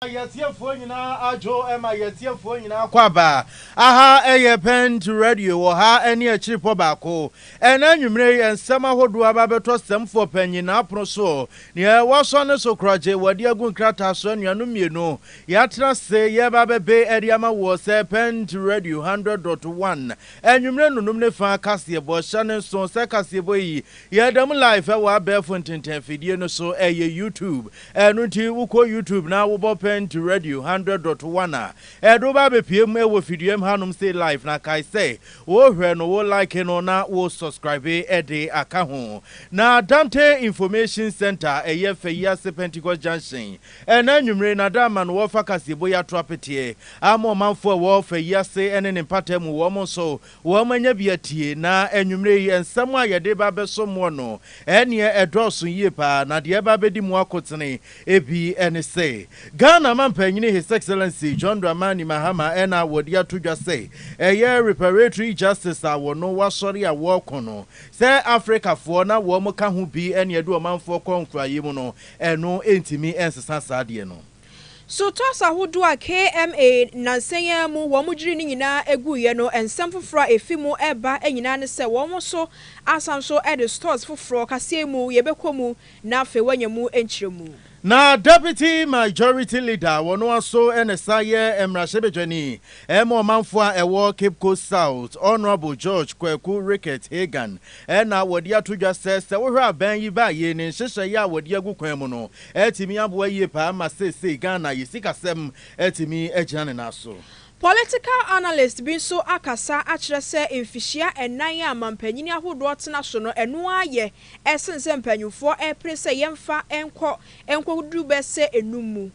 Ma yɛ tiefoɔ nyinaa adwo ma yɛ tiefoɔ nyinaa kɔ aba aha ɛyɛ pɛnt radio wɔ ha ɛne akyiripɔ baako ɛnɛ anwummerɛ yi nsɛm ahodoɔ aba bɛtɔ sɛmfoɔ panyin n'apono so neɛ wɔsɔ ne so korɔgye wɔde agu nkrataa so anuanom mmienu yɛatena se yɛba bɛbe ɛde ama woɔ sɛ pɛnt radio 100.1 anwummerɛ nonum ne fa kaseɛbɔ hyɛ ne nso sɛ kaseɛbɔ yi Yɛda mu live wɔ abɛɛfo ntenten fidie no so, ɛyɛ YouTube. Ɛno nti wokɔ YouTube na wobɔ Pɛnti Radio hundred dot one a, ɛde wo ba abɛpue mu wɔ fidua mu hanom sei live. Na kae sɛ, worehwɛ no, wo like no na wo subscribe de aka ho. Na Dante Information Centre a ɛyɛ fɛ yi ase Pentecost Junction, ɛnnɛ anwummere na da ama no wɔrefa kaseɛbɔ yi ato apeteɛ ama ɔmanfoɔ a ɛwɔ fɛ yi ase ne ne mpataamu wɔn nso Wɔanya bi atie, na anwummere yi nsɛm a yɛde reba abɛsom mo no, ɛnneɛ ɛdɔɔso yie paa, na deɛ ɛreba abɛdi mo akotene bi ne sɛ, Ghana Mampanyini His Excellency John Dramani Mahama na a wɔde ato dwa sɛ ɛyɛ Reparatory Justice a wɔno wɔasɔre a wɔreko no sɛ Afrikafoɔ na wɔka ho bi ne ɛde ɔmanfoɔ kɔ nkoayɛ mu no, ɛno ntumi nsesa saa deɛ no. So toss ahodoɔ a KMA nnansa yi ara mu wɔn gyiri no nyinaa guiɛ no, nsɛm foforɔ a ɛfi mu reba nyinaa ne sɛ wɔn nso asan so de stores foforɔ kaseɛ mu yɛbɛkɔ mu na afei wɔanya mu nkyerɛmu. Na Deputy Majority Leader a ɔno ara nso na ɛsan yɛ mmarahyɛbadwani ma ɔmanfoɔ a ɛwɔ Cape Coast South, Honourable George Kwaku Rickett Hagan na wɔde ato dwa sɛ, sɛ wohwɛ abɛn yi baayie ne nhyehyɛeɛ a wɔde agu kwan mu no, atumi aboa yie paa ma seesei Ghana yɛ sikasɛm atumi agyina ne nan so. Political analyst bi nso akasa akyerɛ sɛ mfihyia nnan a mampanin ahodoɔ tena so no ɛno ara yɛ sene sɛ mpanyinfoɔ repere sɛ yɛmfa nkɔ nkɔduru bɛsɛ nnum mu.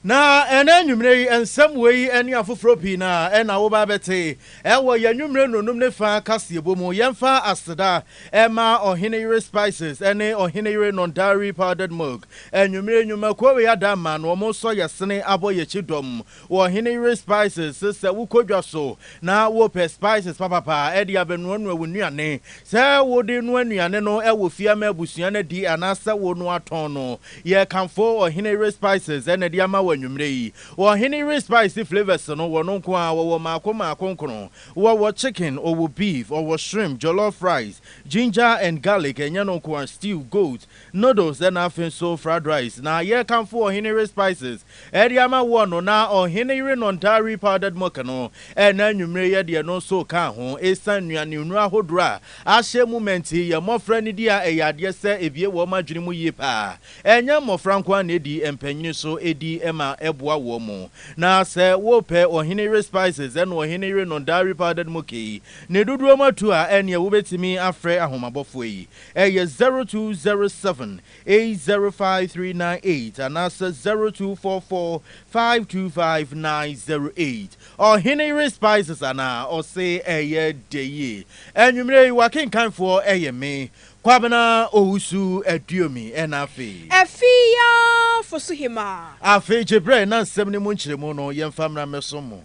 Na ɛnnɛ anwummere yi, nsɛm wei yi ne afoforɔ pii no ara na woba abɛte wɔ yɛn anwummere nnonom no fã kaseɛbɔ mu. Yɛmfa aseda mma Ɔheneyere Spices ne Ɔheneyere Nondari Powdered Milk, anwummere nnwuma kuo wei ada mma no, wɔresɔ yɛn sene abɔ yɛn akyi dɔm wɔ Ɔheneyere Spices. Sɛ wokɔ dwa so na wopɛ spices papapa de abɛnoanoa wo nnuane, sɛ wode noa nnuane no wɔ fie ama abusua no adi anaasɛ wonoa tɔn no, Yɛkamfo Ɔhene Ray Spices ɛna de ama wo anwumerɛ yi. Wɔ Ɔhene Ray Spice flavours no, wɔno nko ara, wɔwɔ mmaako mmaako nkron. Wɔwɔ chicken, ɔwɔ beef, ɔwɔ shrimp, jollof rice, ginger and garlic, ɛnyɛ no nko ara, stew, goat, noodles ɛna afei nso fried rice. Na yɛkamfo Ɔhene Ray Spices Ɛde ama woɔ no, na ɔhene yere no ntaa we powdered milk no, ɛna anwummere yɛ deɛ ɛno nso ka ho. Ɛsiane nnuane hunu ahodoɔ a ahyɛ mu ma nti, yɛn mmɔfra nidi a ɛyɛ adeɛ sɛ ɛbue wɔn adwene mu yie pa ara. Ɛnyɛ mmɔfra nko ara na ɛdi, mpanyini nso di ma ɛboa wɔn. Na sɛ worepɛ ɔhene yere spices ɛne ɔhene yere no ntaa we powdered milk yi ne dodoɔ mu atu a, ɛneɛ wobɛtumi afrɛ ahomabofoɔ yi, ɛyɛ zero two zero seven eight zero five three nine eight anaasɛ zero two four four five two five nine zero eight Ɔhene yere spices anaa ɔse ɛyɛ dɛ yie Anwumerɛ yi w'akenkanfoɔ yɛ me, Kwabena Owusu Aduomi ɛna afei. Afei ya fo so hemaa. Afei gye berɛ na nsɛm no mu nkyerɛmu no yɛmfa mmra mmɛsom mo.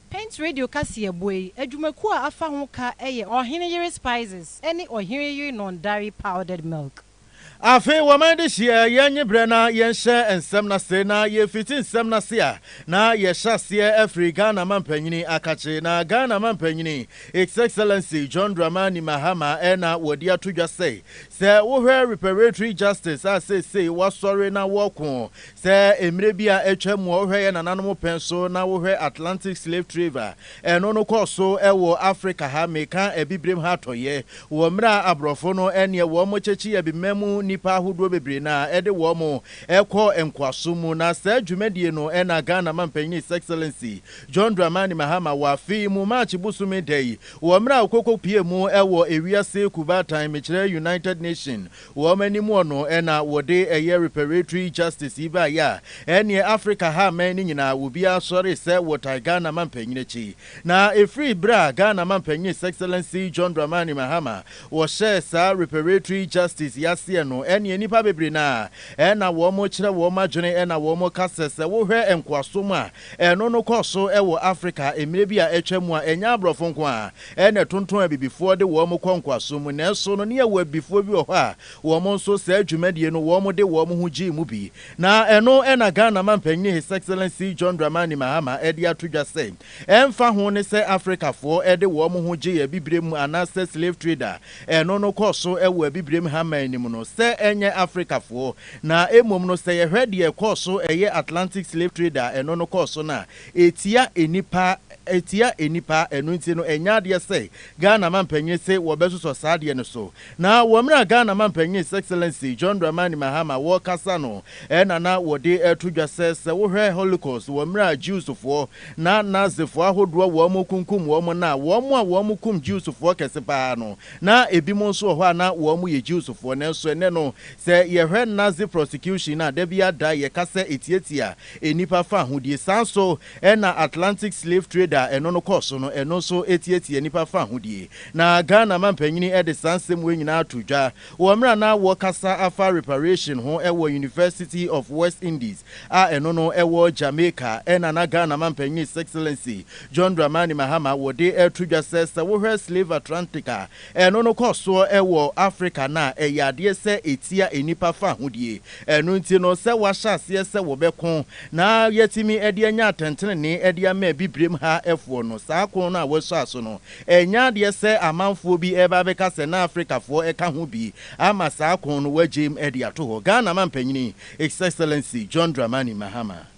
Paint Radio kaseɛbɔ yi adwumakuo a afa ho ka yɛ Ɔhene yere spices ne Ɔhene yere Nondari powdered milk. Afei wɔma yɛde hyia yɛn nye berɛ na yɛnhyɛ nsɛm no ase na yɛfiti nsɛm no ase a na yɛhyɛ aseɛ firi Ghana Mampanyini akakye na Ghana Mampanyini His Excellency John Dramani Mahama na wɔde ato dwa sɛ sɛ wohwɛ Reparatory Justice a seesei wɔasɔre na wɔreko sɛ mmerɛ bi a atwa mu a wohwɛ yɛn nananom pɛn so na wohwɛ Atlantic Slave Traver Ɛno no kɔɔ so wɔ Afrika ha, meka Abibirem ha atɔeɛ, wɔ mmerɛ a aborɔfo no neɛ wɔn kyekye abibirem mu nnipa ahodoɔ bebree na ɛde wɔn kɔ nkoasom mu. Na saa dwumadie no na Ghana Mampanin His Excellency John Dramani Mahama wɔ afe yi mu March bosome da yi wɔ mmerɛ a ɔkɔkɔpuee mu wɔ ewiase kubaatan, mekyerɛ United Nation Wɔn anim hɔ no na wɔde ɛyɛ reparatory justice yi baeɛ a, ɛnneɛ Africa ha mmɛn no nyinaa obiara sɔree sɛ wɔtae Ghana mampanyin akyi. Na ɛfiri berɛ a Ghana mampanyin His Excellency John Dramani Mahama wɔhyɛɛ saa reparatory justice yi aseɛ no ɛnneɛ nnipa bebree no ara na wɔkyerɛ wɔn adwene na wɔka sɛ sɛ wohwɛ nkoasom a ɛno no kɔɔ so wɔ Africa mmerɛ bi a atwa mu a ɛnyɛ aborɔfo nko ara Ɛyɛ na ɛtonton abibifoɔ de wɔn kɔ nkoasom mu, nanso no ne yɛwɔ abibifoɔ bi wɔ hɔ a wɔn nso saa dwumadie no wɔn de wɔn ho gyee mu bi. Na ɛno na Ghana Mampanin His Excellency John Dramani Mahama de ato dwa sɛ ɛmfa ho ne sɛ Afrikafoɔ de wɔn ho gyee abibirem mu anaasɛ slave trade a ɛno no kɔɔ so wɔ abibirem ha man no mu no sɛ ɛnyɛ Afrikafoɔ na mmom no sɛ yɛhwɛ deɛ ɛkɔɔ so ɛyɛ Atlantic slave trade a ɛno no kɔɔ so no a Etia nnipa etia nnipa ɛno nti no ɛnyɛ adeɛ sɛ Ghana mampanin se wɔbɛsosɔ saa adeɛ no so na wɔ mmerɛ a Ghana mampanin His Excellency John Dramani Mahama wɔɔkasa no ɛna na wɔde ɛto dwa sɛ sɛ wohwɛ Holocaust wɔ mmerɛ a Jewsfoɔ na Nazifoɔ ahodoɔ wɔɔmo kunkum wɔɔmo no a wɔɔmo a wɔɔmo kum Jewsfoɔ kɛse paa no na ebinom nso wɔ hɔ a na wɔɔmo yɛ Jewsfoɔ nanso ɛnɛ no sɛ yɛhwɛ Nazi prosecution no a dabiara da yɛka sɛ etia tia nnipa fahodie. Saa nso na Atlantic Slave Trade a ɛno no kɔɔ so no, ɛno nso tiatia nnipa fahodie. Na Ghana mampanyini de saa nsɛm wei nyinaa too dwa wɔ mmerɛ a na wɔrekasa afa reparation ho wɔ University of West Indies a ɛno no ɛwɔ Jamaica na na Ghana mampanyini His Excellency John Dramani Mahama wɔde reto dwa sɛ, sɛ wohwɛ Slave Atlantic a, Ɛno no kɔ soɔ wɔ Afrika no a ɛyɛ adeɛ sɛ ɛtia nnipa fahodie. Ɛno nti no sɛ wɔahyɛ aseɛ sɛ wɔbɛko na yɛatumi de anya atɛntenenee de ama abibirem ha foɔ no, saa ko no a wɔahyɛ aso no, ɛnyɛ adeɛ sɛ amanfoɔ bi reba abɛka sɛ na Afrikafoɔ ka ho bi ama saa ko no wɔagyem de ato hɔ. Ghana Mampanin, His Excellency John Dramani Mahama.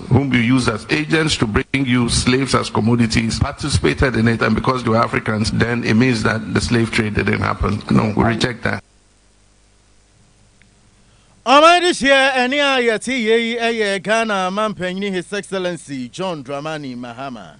whom you used as agents to bring you slaves as commodities participated in it and because they were Africans then it means that the slave trade didn't happen. No, we reject that. Ɔman de hyia ɛne a yɛte yei yɛ Ghana Mampanyini His Excellency John Dramani Mahama.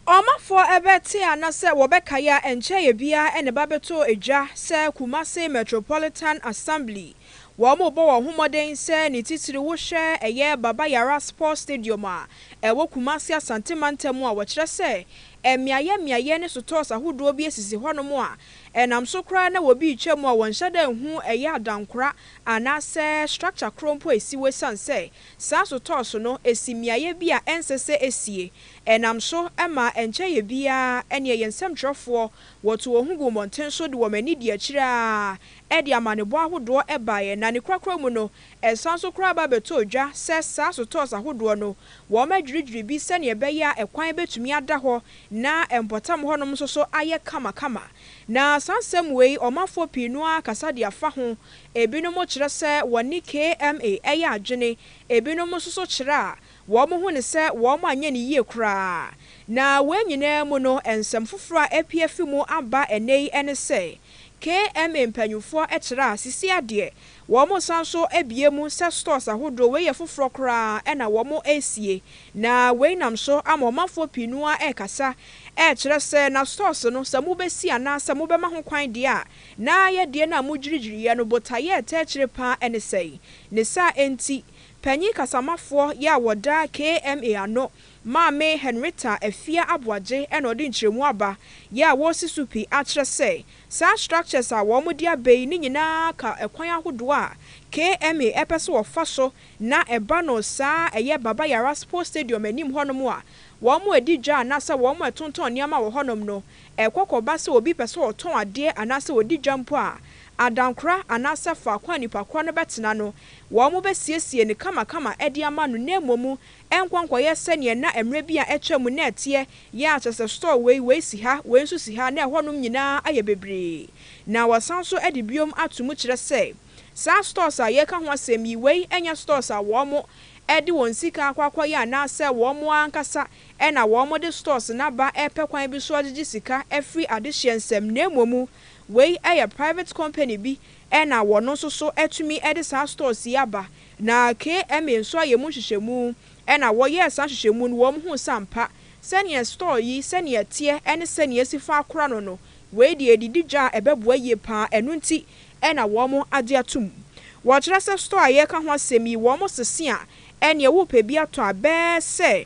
Ɔmafoɔ bɛte ana sɛ wɔbɛkae a ɛnkyɛeɛ biara na ɛba bɛtɔɔ dwa sɛ Kumasi Metropolitan Assembly Wɔrebɔ wɔn ho mmɔden sɛ ne titiriw wohwɛ ɛyɛ Baba Yara Sports Stadium a ɛwɔ Kumasi Asante Mantam a wɔkyerɛ sɛ mmeaeɛ mmeaeɛ ne sotɔɔs ahodoɔ bi sisi hɔnom a ɛnam so koraa na wɔbi retwa mu a wɔnhyɛ da nhu ɛyɛ adankora anaasɛ structure korɔ mpo a ɛsi hɔ ɛsiane sɛ saa sotɔɔs no si mmeaeɛ bi a ɛnsɛ sɛ ɛsie ɛnam so ma ɛnkyɛeɛ biara ɛneɛ yɛn nsɛmtwerɛfoɔ wɔto wɔn ho guu mmɔnten so de wɔn ani dii akyire ara Ɛde amanebɔ ahodoɔ baeɛ, na ne korakora mu no, ɛsan nso koraa ba bɛtɔɔ dwa sɛ saa sotɔɔs ahodoɔ no, wɔadwiridwiri bi sɛdeɛ ɛbɛyɛ a ɛkwan bɛtumi ada hɔ na mpɔtam hɔnom nso so ayɛ kamakama. Na saa nsɛm wei, ɔmanfoɔ pii no ara kasa de afa ho. Ebinom kyerɛ sɛ wɔne KMA yɛ adwene, ebinom nso so kyerɛ a Wɔhu no sɛ wɔanyɛ no yie koraa. Na wei nyinaa mu no, nsɛm foforɔ a apue afi mu aba ɛnnɛ yi ne sɛ, KMA mpanimfoɔ kyerɛ a, sisi ara deɛ, wɔresan nso abue mu sɛ stores ahodoɔ wei yɛ foforɔ koraa na wɔresie. Na wei nam so ama ɔmanfoɔ pii no ara rekasa rekyerɛ sɛ, na stores no, sɛ mobɛsi anaasɛ mobɛma ho kwan deɛ a, na yɛdeɛ no a mogyirigyiriiɛ no, botaeɛ a ɛtaa akyire pa ara ne sɛn? Ne saa nti, Panyin kasamafoɔ yɛ a wɔda KMA ano, Maame Henrietta Afia Aboagye na ɔde nkyerɛmu aba yɛ a wɔresi so pi akyerɛ sɛ saa structures a wɔde aba yi ne nyinaa ka kwan ahodoɔ a KMA ɛpɛ sɛ wɔfa so na ɛba no saa ɛyɛ Baba Yara Sports Stadium anim hɔnom a wɔredi dwa anaasɛ wɔretontɔn nneɛma wɔ hɔnom no, ɛkɔ kɔba sɛ obi pɛ sɛ ɔtɔn adeɛ anaasɛ ɔdi dwa mpo a, adankora anaasɛ faako a nnipa korɔ no bɛtena no, wɔbɛsiesie no kamakama de ama no na mmom ɛnkɔ nkɔyɛ sɛdeɛ na mmerɛ bi a atwa mu na ɛteɛ yɛ a kyerɛ sɛ store wei, wei si ha, wei nso si ha na ɛhɔnom nyinaa ayɛ bebree na wɔsan nso de biom ato mu kyerɛ sɛ saa stores a yɛreka ho asɛm yi wei nyɛ stores a wɔde wɔn sika akɔ akɔyɛ anaasɛ wɔn ara ankasa na wɔde stores no aba repɛ kwan bi so agyegye sika afiri adehyeɛ nsam na mmom wei yɛ private company bi Ɛna wɔno nso so atumi de saa stores yi aba. Na KMA nso ayɛ mu nhwehwɛmu. Ɛna wɔyɛɛ saa nhwehwɛmu no wɔn huu sɛ ampa, sɛdeɛ store yi sɛdeɛ ɛteɛ ɛne sɛdeɛ yɛasi fa akora no no, wei deɛ yɛde di dwa a ɛbɛboa yie pa ara, ɛno nti ɛna wɔn agye atom. Wɔkyerɛ sɛ store a yɛreka ho asɛm yi wɔn sese a, ɛneɛ wopɛ bi atɔ a bɛɛ sɛ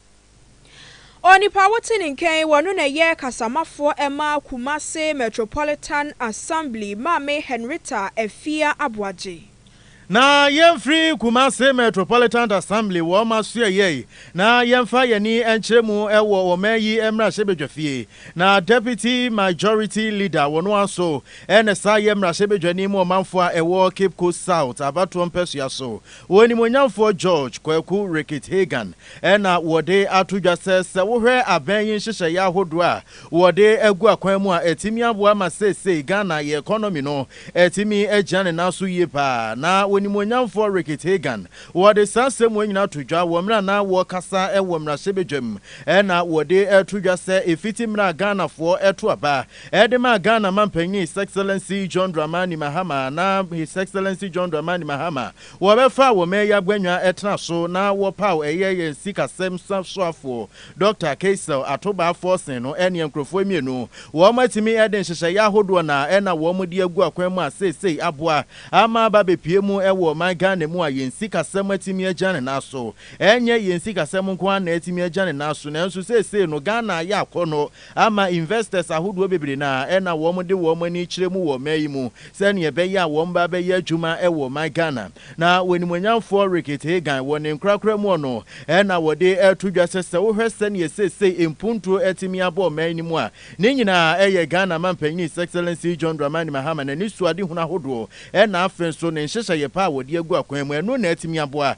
Onipa a wote ne nka yi, ɔno na ɛyɛ kasamafoɔ ɛma Kumase Metropolitan Assembly, Maame Henrietta Afia Aboagye. Na yɛmfiri Kumase Metropolitan Assembly wɔ ɔma so ɛyɛ yi na yɛmfa yɛn ani nkyerɛ mu wɔ ɔman yi mmarahyɛbadwafie. Na Deputy Majority Leader ɔno ara nso na ɛsan yɛ mmarahyɛbadwani ma ɔmanfoɔ a ɛwɔ Cape Coast South abatoɔ mpɛsoa so Onimuonyamfoɔ George Kwaku Rickett Hagan na wɔde ato dwa sɛ, sɛ wohwɛ abɛn yi nhyehyɛeɛ ahodoɔ a wɔde agu akwan mu a, atumi aboa ma seesei Ghana yɛ economy no atumi agyina ne nan so yie pa ara. Na Onimuonyamfoɔ Rickett Hagan, wɔde saa nsɛm wei nyinaa to dwa wɔ mmerɛ a na wɔrekasa wɔ mmarahyɛbadwam na wɔde to dwa sɛ ɛfiti mmerɛ a Ghanafoɔ to aba Ɛde maa Ghana Manpanyin His Excellency John Dramani Mahama na His Excellency John Dramani Mahama wɔbɛfaa wɔ mɛɛyɛ aguanwa ɛtena so na wɔpaw ɛyɛ yɛn sikasɛm soafoɔ Dɔkta Keisel Atobaa Forson no ɛneɛ nkorɔfoɔ mmienu wɔn atumi ɛde nhyehyɛeɛ ahodoɔ na ɛna wɔn de agu akwan mu a seesei aboa ama aba abɛpue mu ɛwɔ ɔman Ghana mu a yɛn sikasɛm atumi agya ne nan so ɛnyɛ yɛn sikasɛm nko ara na atumi agya ne nan so nanso seesei no Ghana ayɛ akɔnnɔ ama investors ahodoɔ bebree no a ɛna wɔn de wɔn ani kyerɛ mu wɔ ɔman yi mu sɛdeɛ ɛbɛyɛ a wɔn ba bɛyɛ adwuma wɔ ɔman Ghana. Na onimuonyamfoɔ Rickett Hagan wɔ ne nkorakora mu ɔno na wɔde to dwa sɛ sɛ wohwɛ sɛdeɛ seesei mpuntuo atumi abɔ ɔman no mu a ne nyinaa ɛyɛ Ghana mampanin His Excellency John Dramani Mahama n'anisoadehunu ahodoɔ ɛna afei nso ne nhyehyɛeɛ pa a wɔde agu akwan mu ɛno na atumi aboa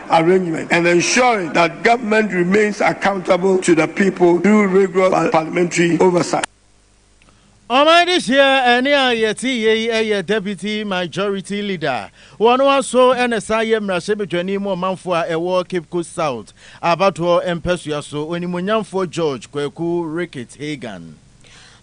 arrangement and ensuring that government remains accountable to the people through rigorous parliamentary oversight. Ɔman de hyia ɛne a yɛte yɛ yi yɛ Deputy Majority Leader wɔ no ara so na san yɛ mmarahyɛbadwani ma ɔmanfoɔ a ɛwɔ Cape Coast South abatoɔ mpɛsoa so, Onimuonyamfoɔ George Kwaku Ricketts Hagan.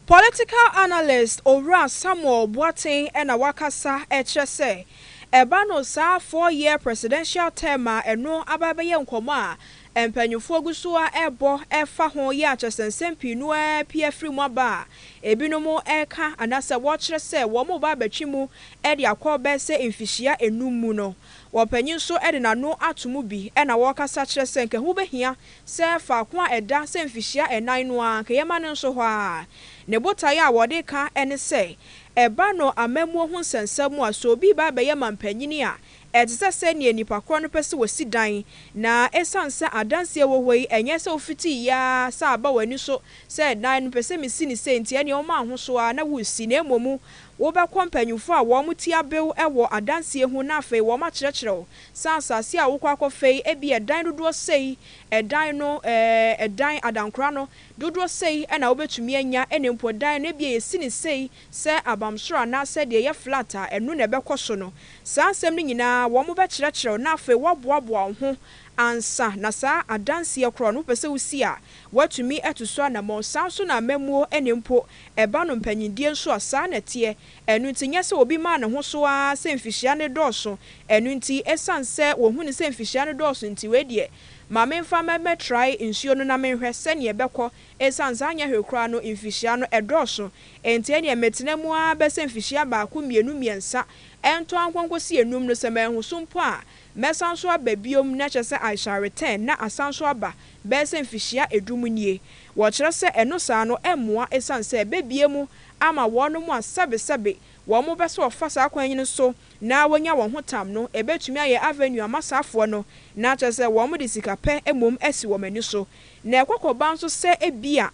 Political analyst Owura Samuel Boateng na wakasa kyerɛ sɛ ɛba no saa four year presidential term a ɛno aba bɛyɛ nkɔmmɔ a mpanyinfoɔ gu so ara ɛrebɔ ɛfa ho yɛ akyɛsɛ nsɛm pii no ara pie firi mu aba a ebinom ɛreka anaasɛ wɔkyerɛ sɛ wɔn reba abɛtwe mu de akɔ bɛyɛ sɛ mfihyia nnum mu no wɔpanyin nso de n'ano ato mu bi na wɔkasa kyerɛ sɛ nka ɛho bɛhia sɛ faako a ɛda sɛ mfihyia ɛnan no ara nka yɛmma no nso hɔ ara. Ne botaeɛ a wɔde ka ne sɛ, ɛba no amammuo ho nsɛnsɛm mu a, sɛ obi reba abɛyɛ manpanin a, ɛte sɛ sɛdeɛ nnipa korɔ no pɛ sɛ wɔsi dan, na ɛsiane sɛ adanseɛ wɔ hɔ yi, ɛnyɛ sɛ wofiti yɛ ara sɛ aba w'ani so sɛ dan no mepɛ sɛ mesi no sei nti ɛnneɛ woma ahoso ara na woresi, na mmom wobɛkɔ mpanimfoɔ a wɔn ti abew wɔ adanseɛ ho na afei wɔakyerɛkyerɛ wo Sɛ asase a wokɔ akɔfa yi, ebia dan dodoɔ sei, ɛdan no, ɛɛ, ɛdan, adankora no, dodoɔ sei na wobɛtumi anya, ɛna mpo dan no, ebia yɛsi no sei sɛ abamsoro anaasɛ deɛ ɛyɛ flat a, ɛno na ɛbɛkɔ so no. Saa nsɛm no nyinaa, wɔbɛkyerɛkyerɛ wo na afei woaboaboa wo ho ansa na saa adanseɛ korɔ no wopɛ sɛ wosi a, woatumi atu so anammɔn. Saa nso na amammuo, ɛna mpo ɛba no mpanyindie nso a, saa na ɛteɛ. Ɛno nti, nyɛ sɛ obi maa ne ho so ara sɛ mfihyia no dɔɔso. Ɛno nti, esiane sɛ wɔahu no sɛ mfihyia no dɔɔso nti, wei deɛ, ma memfa mmɛtrae nsuo no na menhwɛ sɛdeɛ ɛbɛkɔ, esiane sɛ anyɛ hwee koraa no, mfihyia no dɔɔso. Enti ɛnneɛ mɛtena mu ara bɛsɛ mfihyia baako, mmienu, mmiɛnsa, ɛntɔ ara nkɔnkɔsi nnum no. Sɛ manhu so mpo a, mɛsan nso aba bio, na kyerɛ sɛ I shall return, na asan nso aba bɛyɛ sɛ mfihyia du mu nie. Wɔkyerɛ sɛ ɛno saa no mmoa esiane sɛ ɛbɛbue mu ama wɔnom a sɛbesɛbe wɔnom bɛ sɛ wɔfa saa kwan yi no so na wɔnya wɔn ho tam no, ɛbɛtumi ayɛ avenue ama saafoɔ no, na kyerɛ sɛ wɔnom de sika pɛ mmom asi wɔnom ani so. Na ɛkɔ kɔ ba nso sɛ ebia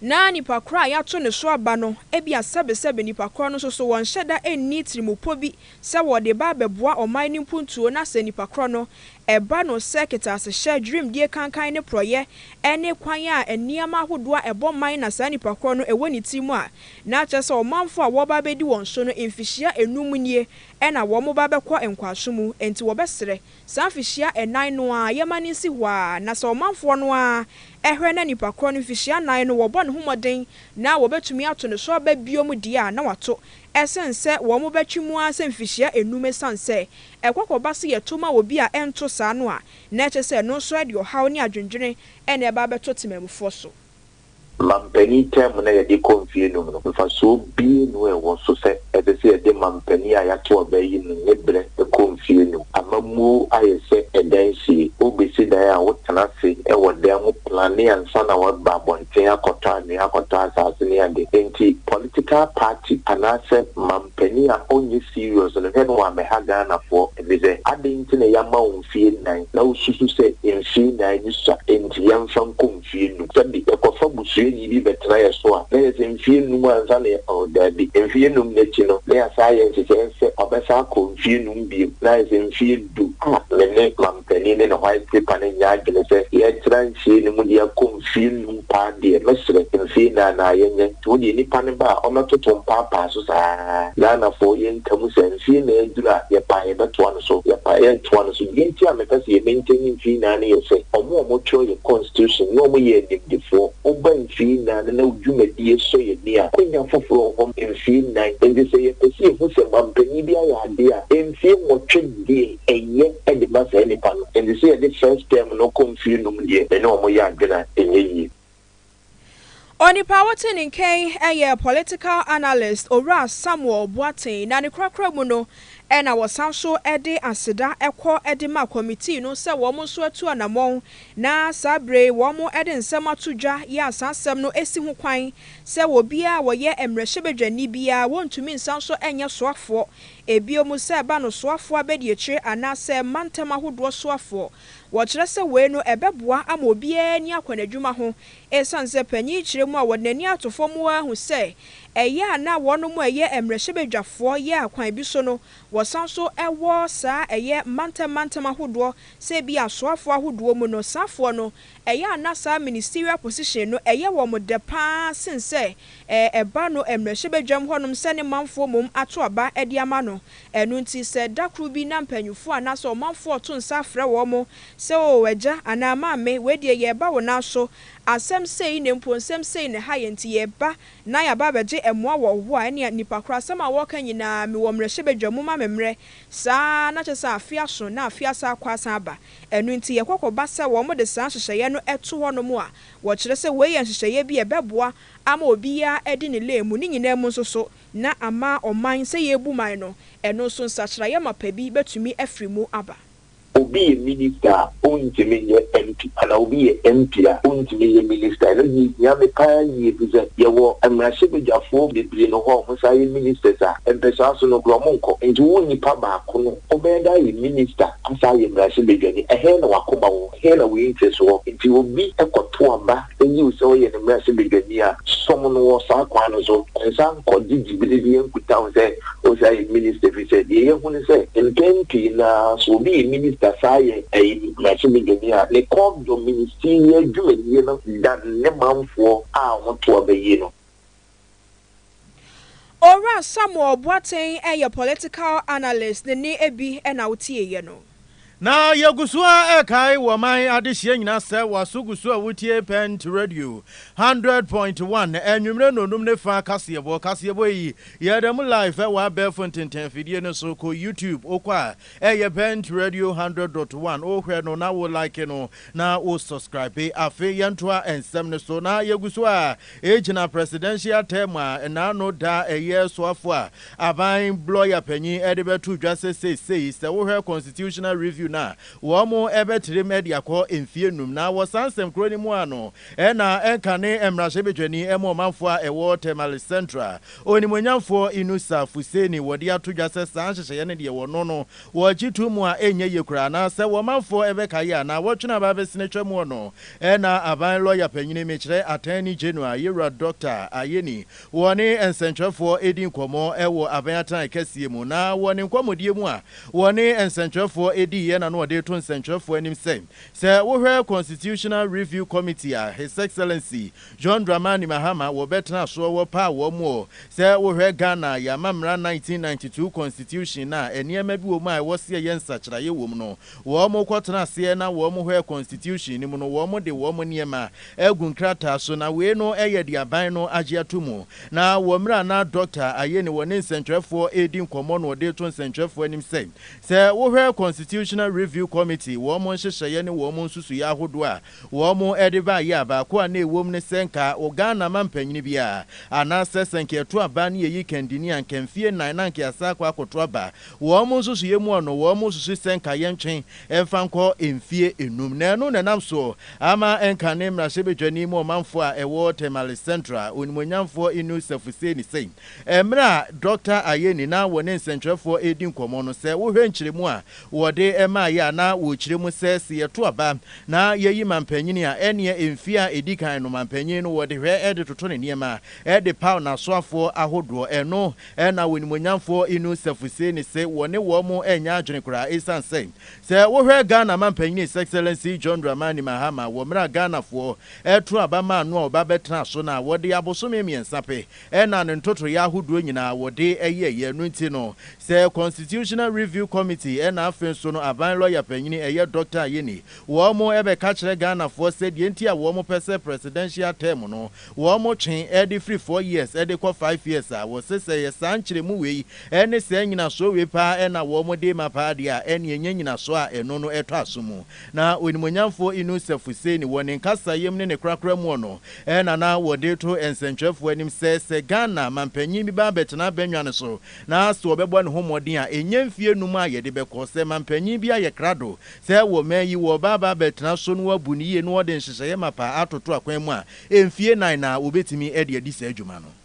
na nipa korɔ a yato ne so aba no, ebia sɛbesɛbe nipa korɔ no nso so wɔnhyɛ da nni tirimupɔ bi sɛ wɔde ba bɛboa ɔman no mpuntuo na sɛ nipa korɔ no ɛba no sɛ kɛtɛasehyɛ, dwirimdie kankan ne porɔeɛ ne kwan a nneɛma ahodoɔ a ɛbɔ man na saa nipa korɔ no ɛwɔ ne tirim a, na akyerɛ sɛ ɔmanfoɔ a wɔreba abɛdi wɔn so no mfihyia nnum nie na wɔreba abɛkɔ nkoasom mu, enti wɔbɛsrɛ saa mfihyia nnan no ara yɛmma no nsi hɔ ara na sɛ ɔmanfoɔ no ara hwɛ na nipa korɔ no mfihyia nnan no wɔbɔ ne ho mmɔden na wɔbɛtumi ato ne so aba bio mu deɛ a na wɔato Ɛsen sɛ wɔbɛtwe mu ara sɛ mfihyia nnum esiane sɛ ɛkɔ kɔba sɛ yɛto ma obi a ɛnto saa no a, na ɛkyerɛ sɛ ɛno nso de ɔhaw ne adwendwene na ɛba bɛto temammufoɔ so. Mampanin tɛɛm no a yɛde kɔ mfeɛ nnum no, mfasoɔ bie nu a ɛwɔ so sɛ ɛsɛ sɛ yɛde mampanin a yɛato aba yi mu ne berɛ kɔ mfeɛ nnum? Amammuo ayɛ sɛ ɛdan sie. Wobɛsi dan a wotena ase wɔ dan mu plane ansa na woaba abɔnten. sɛ yɛakɔtɔ anwea, akɔtɔ asase ne ade. Enti political party anaasɛ manpanin a ɔnyɛ serious no, hwɛ no wammɛha Ghanafoɔ. Efisɛ adɛn nti na yɛama wo mfeɛ nnan na wosusu sɛ mfeɛ nnan no sua enti yɛmfa nkɔ mfeɛ num? Sɛbe yɛkɔfa busuani bi bɛtena yɛn so a, na yɛ sɛ mfeɛ num ansa na yɛ oh daabi, mfeɛ num no akyi no na yɛasan ayɛ nhyehyɛe sɛ ɔbɛsan akɔ mfeɛ num bio na ayɛ sɛ mfeɛ du. Ah, me ne. Panin ne ne white paper no nyɛ adwene sɛ yɛtra nsie no mu de akɔ mfie nnum paa deɛ, mɛsrɛ, mfie nnan naa yɛnyɛ. Nti wo deɛ nipa no ba a, ɔmmɛtoto mpaapaa so saa. Ghanafoɔ, yɛnka mu sɛ, mfie nnan aduru a, yɛpɛ a yɛbɛtoa no so, yɛpɛ a yɛntoa no so. Deɛ nti a mepɛ sɛ yɛ maintain mfie nnan no yɛ sɛ, wɔn a wɔtwerɛ yɛ constitution ne wɔyɛ animdefoɔ, woba mfie nnan no na wo dwumadie sɔ yɛn ani a, akwanya foforɔ wɔ hɔ ma mfie nnan. Nti sɛ yɛpɛ sɛ yɛhu sɛ mampanin bi ayɛ adeɛ a, mfie nwɔtwe deɛ. ɛyɛ de ma saa nnipa no, ɛnte sɛ yɛde first term no kɔ mfeɛ nnum deɛ, me ne wɔn yɛ adwene a, ɛnyɛ yie. Onipa a wote ne nkan yɛ political analyst Owura Samuel Boateng na ne korakora mu no na wɔsan nso de aseda kɔ de ma kɔmitii no sɛ wɔn nso atu anammɔn na saa berɛ yi wɔde nsɛm ato dwa yɛ a saa nsɛm no si ho kwan sɛ obiara a ɔyɛ mmarahyɛbadwani biara wɔntumi nsan nso nyɛ soafoɔ Ebio mu sɛ ɛba no soafoɔ abɛdiakyire anaa sɛ mantam ahodoɔ soafoɔ. Wɔkyerɛ sɛ wei no ɛbɛboa ama obiara ani akɔ n'adwuma ho ɛsiane sɛ panin kyerɛ mu a wɔde n'ani ato fam ara hu sɛ ɛyɛ a na wɔnom a ɛyɛ mmrahyɛbadwafoɔ yɛ a kwan bi so no wɔsan nso wɔ saa ɛyɛ mantam mantam ahodoɔ sɛ ebia soafoɔ ahodoɔ mu no saafoɔ no Ɛyɛ a na saa ministerial position no ɛyɛ wɔn dɛ paa sen sɛ ɛba no mmrahyɛbadwam hɔnom sɛ ne manfoɔ mmom ato aba de ama no. Ɛno nti sɛ da koro bi na mpanyinfoɔ anaasɛ ɔmanfoɔ to nsa frɛ wɔn sɛ oo agya anaa maame wei deɛ yɛreba wo nan so asɛm sei na mpo nsɛm sei na ɛha yɛn nti yɛreba na yɛaba abɛgye mmoa wɔ wo hɔ a ɛnea nnipa korɔ asɛm a wɔreka nyinaa mewɔ mmrahyɛbadwam momma me mmrɛ saa na kyerɛ sɛ afe aso na afe asan akɔ asan aba. Ɛno nti, yɛkɔ kɔba sɛ wɔde saa nhyehyɛeɛ no to hɔnom a, wɔkyerɛ sɛ wei yɛ nhyehyɛeɛ bi a ɛbɛboa ama obiara adi ne lane mu. Ne nyinaa mu nso so na ama ɔman, sɛ yɛrebu man no, ɛno nso nsakyeraeɛ mapa bi bɛtumi afiri mu aba. Obi yɛ Minista a, ɔntumi nyɛ MP, anaa obi yɛ MP a, ɔntumi nyɛ Minista. Ɛno deɛ ɛhia me pa ara yie, ɛfiri sɛ yɛwɔ mmarahyɛbadwafoɔ bebree no hɔ a wɔsan yɛ Ministers a, mpɛsoa so no koraa wɔnkɔ. Enti wo nipa baako no Ɔbɛyɛ dɛ ayɛ minister asan ayɛ mmarahyɛ badwani, ɛhe na w'akoma wɔ? Ɛhe na wei nteso wɔ? Nti obi kɔto aba yiw sɛ ɔyɛ ne mmarahyɛ badwani a, som no wɔ saa kwan no so. Ɛnsan nkɔgye gyibere biara nkutaho sɛ ɔsan ayɛ minister efisɛ deɛ yɛahu ne sɛ mpɛn pii no ara sɛ obi yɛ minister san ayɛ mmarahyɛ badwani a, ne kɔɔpdɔm, ministerial, dwumadie no dan ne manfoɔ a wɔto aba yie no. Owura Samuel Boateng yɛ political analyst ne ne ebi na wo tie yɛ no. Na yɛgu so ara rekae wɔ ɔman adehyeɛ nyinaa sɛ w'aso gu so a wotie Pent Radio hundred point one anwummerɛ nnɔnnum ne fa kaseɛbɔ. Kaseɛbɔ yi yɛda mu live ɛwɔ abɛɛfo ntentɛnfidie no so. Kɔ YouTube wokɔ a ɛyɛ Pent Radio hundred dot one wohwɛ no na wo like no na wo subscribe. Afei yɛntoa nsɛm no so na yɛgu so a Egyina presidential term a ɛnaano da a ɛyɛ soafo a aban lɔya panyin de bɛto dwa sɛ seisei sɛ wohwɛ constitutional review no a wɔbɛtirim de akɔ mfie num na wɔ saa nsɛm korɔ no mu a no na ɛnkane mmarahyɛbadwani ma ɔmanfoɔ a ɛwɔ Tamale Central onimuonyamfoɔ Inusa Fuseni wɔde ato dwa sɛ saa nhyehyɛeɛ no deɛ wɔno no wɔgye to mu a ɛnyɛ yie koraa na sɛ wɔmanfoɔ bɛkaeɛ a na wɔtwene aba abɛsene twa mu ɔno Ɛna aban lɔya panyini mekyerɛ Attorney General Yewura Doctor Ayeni wɔ ne nsɛnkyerɛfoɔ ɛdi nkɔmmɔ ɛwɔ aban atenae kɛseɛ mu na wɔ ne nkɔmmɔdie mu a wɔ ne nsɛnkyerɛfoɔ ɛdiiɛ na no ɔde to nsɛnkyerɛfoɔ anim sɛ sɛ wo hwɛ Constitutional Review Committee a His Excellency John Dramani Mahama wɔ bɛ tena soɔ wɔ paa wɔ moɔ sɛ wo hwɛ Ghana yɛ ama mmara 1992 Constitution no a nneɛma bi wɔ mu a ɛwɔ sɛ yɛ nsakyeraeɛ wɔ mu no Wɔn kɔ tena aseɛ na wɔn hɔ yɛ constitution no mu no wɔn de wɔn nneɛma agu nkrataa so na wei no yɛ de aban no agye ato mu na wɔ mmerɛ a na Doctor ayɛ ni wɔne nsɛnkyerɛfoɔ redi nkɔmmɔ no ɔde reto nsɛnkyerɛfoɔ anim sɛ sɛ wo hwɛ constitutional review committee wɔn nhyehyɛeɛ ne wɔn nsusuiɛ ahodoɔ a Wɔde baa yea baako a na ɛwom ne sɛ nka Ghana mampanyini bi a anaasɛ sɛ nka yɛto aba ne yɛyi kandini a nka mfie nnan na nka yɛasan akɔ akɔto aba. Wɔn nsusuiɛ mu no wɔn susu sɛ nka yɛntwe mfa nkɔ mfie nnum na ɛno na ɛnam so ama nka ne mmarahyɛbadwani mu ɔmanfoɔ a ɛwɔ Tamale Central onimuonyamfoɔ Inu Sefuseni sɛ mmerɛ a Dɔkta Ayeni na wɔne nsɛnkyerɛfoɔ redi nkɔmmɔ no sɛ wohwɛ nkyerɛmu a Wɔde maeɛ a na wɔkyerɛ mu sɛ, se yɛto aba na yɛyi manpanyini a, ɛneɛ mfeɛ a ɛdi kan no manpanyini no wɔde hwɛ de toto ne nneɛma de paw n'asoafoɔ ahodoɔ. Ɛno na w'animuonyamfoɔ Inu Sefu see ne se wɔne wɔn nyɛ adwene koraa esiane sɛ, sɛ wohwɛ Ghana manpanyini His Excellency John Dramani Mahama wɔ mmerɛ a Ghanafoɔ to aba maa no a ɔba bɛtenaa so no a, wɔde abosome mmiɛnsa pɛ Ɛna no ntotoeɛ ahodoɔ nyinaa wɔde yɛeɛ. Ɛno nti no, sɛ Constitutional Review Committee ɛna afe nso no aban lɔya panyini ɛyɛ Dɔkta Ayeni, wɔn bɛka kyerɛ Ghanafoɔ sɛ deɛ nti a wɔn pɛ sɛ Presidential term no wɔn twe de firi four years de kɔ five years a wɔse sɛ ɛyɛ saa nkyerɛmu wei ne saa nyinasoɔ wei paa na wɔn de rema paa deɛ a ɛneɛ ɛnyɛ nyinasoɔ a ɛno no ɛtɔ aso mu. Na Onimuonyamfoɔ Inus Afusei ne wɔ ne nkasaeɛm ne ne korakora muɔ no, Ɛna na wɔde to nsɛntwerɛfoɔ anim sɛ, sɛ Ghana mampanyin bi ba bɛtena bɛnwa no so na sɛ ɔbɛbɔ ne ho mmɔden a, ɛnyɛ mfie nnum a yɛde bɛkɔ. Sɛ mampanyin bi ayɛ krado sɛ wɔ man yi wɔreba aba bɛtena so na wabu no yie na ɔde nhyehyɛeɛ mapa atoto akwan mu a, mfie nan na wɔbɛtumi de adi saa dwuma no.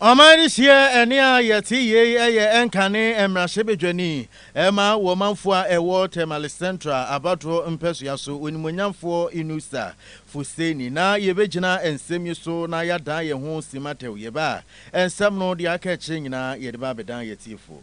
Ɔman no sie ɛnne a yɛte yei yɛ ɛnkane mmarahyɛbadwani ma wɔ manfoɔ a ɛwɔ Tamale Central abatoɔ mpɛsoa so, Onimuonyamfoɔ Inusa Fuseni. Na yɛbɛgyina nsɛm yi so na yɛadan yɛn ho simma tɛw. Yɛbaa nsɛm no deɛ aka akyire nyinaa yɛde ba abɛdan yɛn atiefoɔ.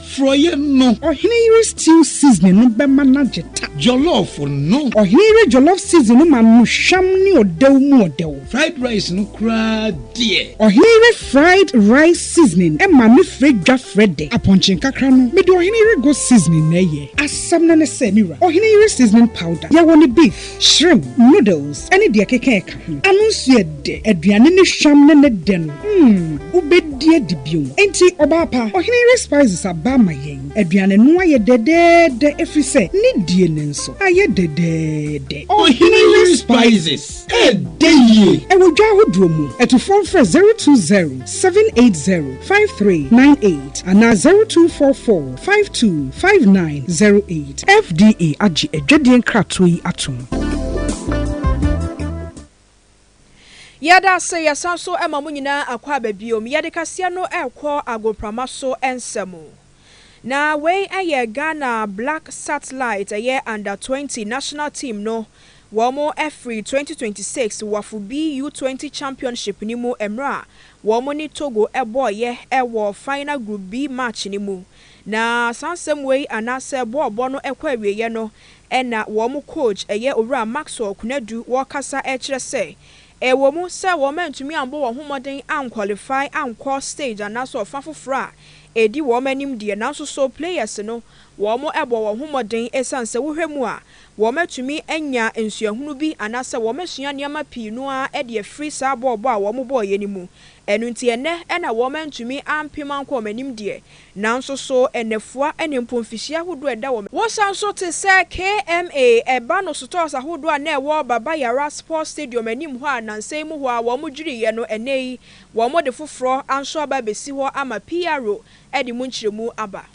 Frɔeɛ no. Ɔhene yere stew seasoning no bɛma no agye ta. Jollof no. Ɔhene yere jollof seasoning no ma no hwam ne ɔdɛw mu ɔdɛw. Fried rice no koraa deɛ. Ɔhene yere fried rice seasoning ma me frɛ dwa frɛ dɛ. Apɔnkye nkakra no, mede ɔhene yere goat seasoning na ɛyɛ. Asɛm no ne sɛ, me wura, ɔhene yere seasoning powder, yɛwɔ no beef, shrimp, noodles, ne deɛ ɛkeka ɛka. Ano nso yɛ dɛ, aduane ne hwam ne ne dɛ no, mm, wobɛdi adi bio. Enti, ɔbaa pa, Ɔhene Ray Spices aba ma yɛn. Aduane no ayɛ dɛdɛɛdɛ ɛfiri sɛ ne die no nso ayɛ dɛdɛɛdɛ. Ɔhene Ray Spices, ɛdɛ yie! Ɛwɔ dwa ahodoɔ mu. Atufoɔ mfrɛ zero two zero seven eight zero five three nine eight anaa zero two four four. Five two five nine zero eight. FDA agye adwadie nkratoɔ yi atom. Yɛda ase yɛsan nso ma mo nyinaa akɔ aba biom. Yɛde kaseɛ no rekɔ agoprama so nsa mu. Na wei yɛ Ghana Black Satellite ɛyɛ Under twenty National Team no Wɔafiri twenty twenty six Wafo B U twenty Championship no mu mmerɛ a wɔn ne Togo bɔɔeɛ wɔ final Group B match no mu. Na saa nsɛm wei anaasɛ bɔɔlbɔ no kɔ awieɛ no na wɔn coach ɛyɛ Owura Maxwell Konadu wɔkasa kyerɛ sɛ ɛwɔ mu sɛ wɔn antumi ammɔ wɔn ho mmɔden anqualify ankɔ stage anaasɛ ɔfa foforɔ a ɛdi wɔn anim deɛ nanso so players no wɔn bɔɔ wɔn ho mmɔden ɛsiane sɛ wohwɛ mu a wɔatumi anya nsuahunu bi anaasɛ wɔasua nneɛma pii no ara de afiri saa bɔɔlbɔ a wɔbɔeɛ no mu. Ɛno nti, ɛnnɛ na wɔantumi ampem ankɔ wɔn anim deɛ, nanso so nnafua ne mpo mfihyia ahodoɔ a ɛda wɔn Wosa nso te sɛ KMA, ɛba no sotɔɔs ahodoɔ a na ɛwɔ Baba Yara Sports Stadium anim hɔ a nnansa yi mu hɔ ara wɔdwiriiɛ no, ɛnnɛ yi wɔde foforɔ nso aba abɛsi hɔ ama PRO de mu nkyerɛmu aba.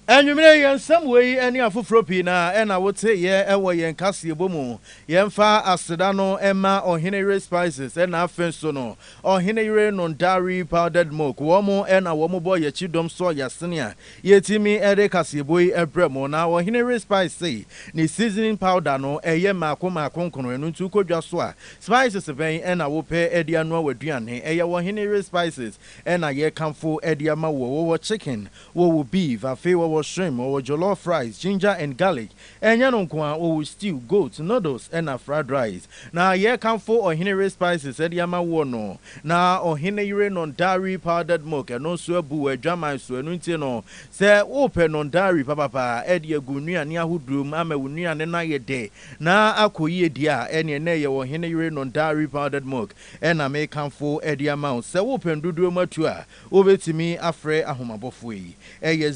Anwummere yi, yɛn nsɛm wei ne afoforo pii na na wote yɛn wɔ yɛn kaseɛbɔ mu. Yɛmfa aseda no mma Ɔheneyere Spices na afei nso no Ɔheneyere Nondari Powdered Milk. Wɔn na wɔbɔ yɛn kyidɔm soɔ yɛ sɛnea yɛtumi de kaseɛbɔ yi brɛ mo. Na Ɔheneyere Spice sei, ne seasoning powder no yɛ mmaako mmaako nkono, ɛno nti wokɔ dwa so a, spices bɛn na wopɛ de anoa w'aduane? Ɛyɛ Ɔheneyere Spices na yɛkamfo de ama wo. Wɔwɔ chicken, Wɔwɔ beef, afei wɔwɔ shrimp, wɔwɔ jollof rice, ginger and garlic. Ɛnyɛ no nko ara, wɔwɔ stew, goat, noodles ɛna fried rice. Na yɛrekamfo ɔhene yere spices ɛde ama woɔ no. Na ɔhene yere non-dairy powdered milk ɛno nso abu wɔ adwaman so, ɛno nti no sɛ wopɛ non-dairy papapa ɛde agu wo nnuane ahodoɔ mu ama wo nnuane no ayɛ dɛ na akɔ yie deɛ a, ɛneɛ nnɛ yɛwɔ ɔhene yere non-dairy powdered milk ɛna merekamfo ɛde ama wo. Sɛ wopɛ ndodoɔ mu atu a, Wobɛtumi afrɛ Ahomabɔfoɔ yi, ɛyɛ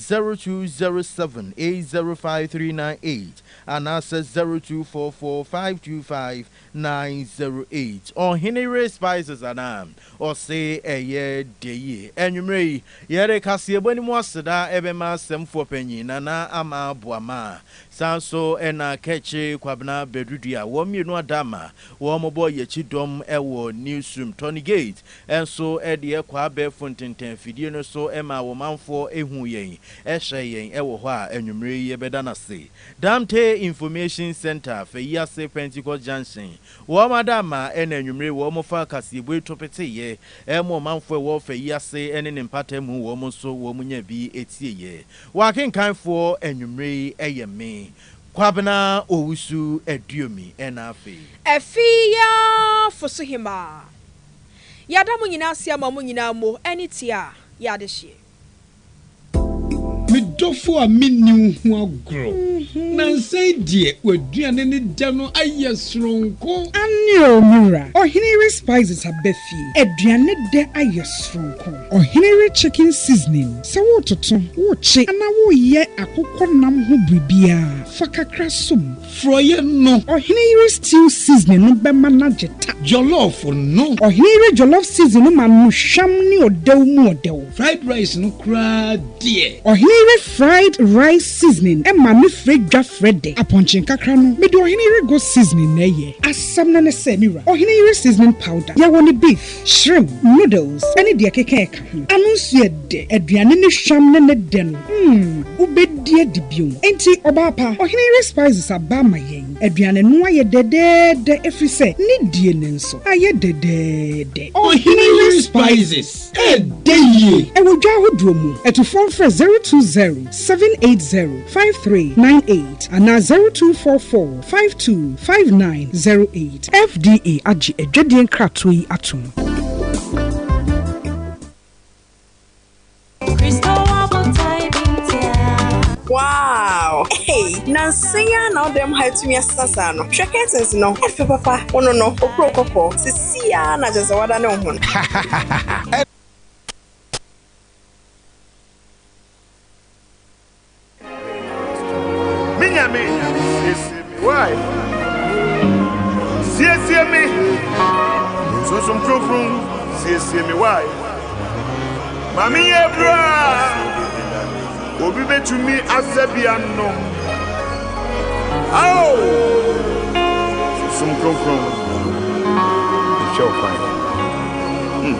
0207805398 anaasɛ 0244525908. Ɔhene Ray Spices anaa? Ɔse ɛyɛ dɛ yie. Anwummerɛ yi, yɛde kaseɛbɔ no mu aseda bɛma Asɛmfoɔ Panyin Nana Ama Boamah, saa nso na Kɛkye Kwabena Bɛdudua, wɔn mmienu ada ma wɔbɔ Yɛakyi Dɔm wɔ Newsroom, Tony Gate, Nso de ɛkɔ abɛɛfo ntenten afidie no so maa wo manfoɔ huu yɛn, hyɛɛ yɛn wɔ hɔ a anwummerɛ yi yɛbɛda no ase. Damte Information Centre, Fayiase Pentecost Junction, wɔn ada ama ɛna anwummerɛ yi wɔfaa kaseɛbue to peteeɛ ma ɔmanfoɔ a ɛwɔ Fayiase ne ne mpata mu, wɔn nso wɔnyaa bi tieeɛ. Wɔn akenkanfoɔ anwummerɛ yi yɛ me, Kwabena Owusu Aduomi, ɛna afei. Afie yi ara fosohemaa. Yɛada mo nyinaa ase ama mo nyinaa mo ani tua yɛ adehyeɛ. Me dɔfo a menni wo ho agorɔ. Nansa yi deɛ w'aduane ne dɛ no ayɛ soronko. Aane o me wura, ɔhene we spices aba fie, aduane dɛ ayɛ soronko. Ɔhene we chicken seasoning, sɛ wototo, wokye anaa woyɛ akokɔ nam ho biribiara, fa kakra som, Frɔeɛ no. Ɔhene yere stew seasoning no bɛma no agye ta. Jollof no. Ɔhene yere jollof seasoning no ma no hwam ne ɔdɛw mu ɔdɛw. Fried rice no koraa deɛ. Ɔhene yere fried rice seasoning ma me frɛ dwa frɛ dɛ. Apɔnkye nkakra no, mede ɔhene yere goat seasoning na ɛyɛ. Asɛm no ne sɛ, me wura, ɔhene yere seasoning powder, yɛwɔ no beef. Shrimp, noodles ne deɛ ɛkeka ɛka ho. Ano nso yɛ dɛ. Aduane ne hwam ne ne dɛ no, mm, wobɛdi adi bio. Enti ɔbaa pa, ɔhene yere spices aba ama yɛn. Aduane no ayɛ dɛdɛɛdɛ ɛfiri sɛ ne die no nso ayɛ dɛdɛɛdɛ. Ɔhene yere spices ɛdɛ yie. Ɛwɔ dwa ahodoɔ mu. Atufoɔ mfrɛ zero two zero, seven eight zero, five three nine eight anaa zero two four four. Five two five nine zero eight. FDA agye adwadie nkratoɔ yi atom. Wow! Hey, nansa yi ara na ɔdan mu ha atumi asesa saa no. Hwɛ curtains no, ɛfɛ papa. Wo no no, okuro kɔkɔɔ. Sisi ara na kyerɛ sɛ wada ne ho no. Me nyame, siesie me. Why? Siesie me. Sunsum kronkron, siesie me. Why? Ma me yɛ bra. Obi betumi asɛ bi anom. Ao! Sunsum kronkron, hwɛ ɔkwan. Hmm.